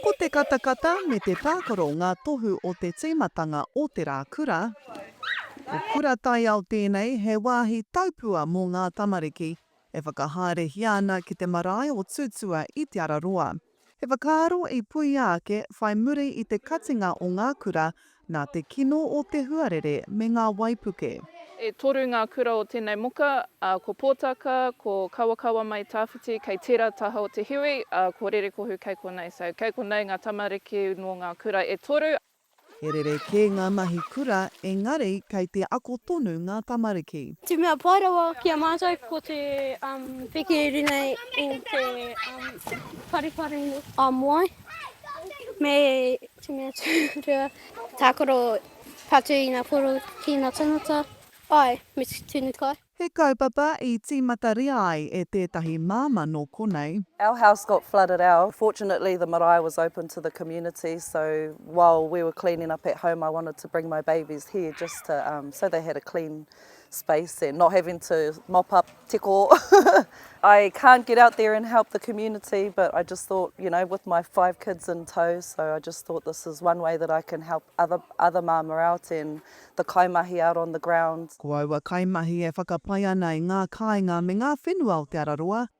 Ko te katakata me te tākaro ngā tohu o te tīmatanga o te rā kura. Ko Kura Taiao tēnei, he wāhi taupua mō ngā tamariki e whakahaerehia ana ki te marae o Tūtua i Te Araroa. He whakaaro i puea ake whai muri i te katinga o ngā kura nā te kino o te huarere me ngā waipuke. E toru ngā kura o tēnei moka, ko Pōtaka, ko Kawakawa mai Tawhiti kei tērā taha o te hiwi, ā, ko Rerekohu kei konei, so kei konei ngā tamariki nō ngā kura e toru. He rere kē ngā mahi kura, engari kei te ako tonu ngā tamariki. Te mea pai rawa ki a mātou ko te piki i runga i te pariparu a moe. Me te mea tūrua, tākaro patu i ngā poro ki ngā tangata, āe, me te tunu kai. He kaupapa i tīmataria ai e tētahi māmā nō konei. Our house got flooded out, fortunately the marae was open to the community so while we were cleaning up at home I wanted to bring my babies here just to so they had a clean space and not having to mop up tiko. I can't get out there and help the community but I just thought, you know, with my five kids in tow, so I just thought this is one way that I can help other other māmā out and the kaimahi out on the ground. Ko aua kaimahi e whakapai ana i ngā kāinga me ngā whenua o Te Araroa,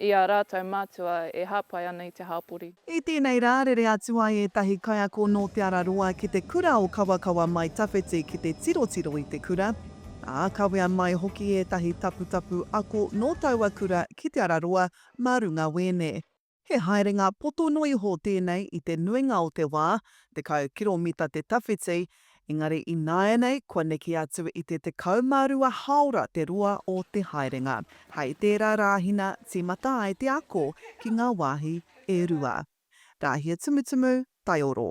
i ā rātou mātua e hāpai ana i te hāpori. I tēnei rā, rere atu ai ētahi kaiako nō Te Araroa ki te kura o Kawakawa mai tawhiti ki te tirotiro i te kura, ā, kawea mai hoki ētahi taputapu ako nō taua kura ki Te Araroa mā runga wēne. He haerenga poto noa iho tēnei i te nuinga o te wā, tekau kiromita te tawhiti, engari ināianei kua neke atu i te 12 hāora te roa o te haerenga. Hei tērā rāhina tīmata ai te ako ki ngā wāhi e rua. Rāhia Tumutumu, Taioro.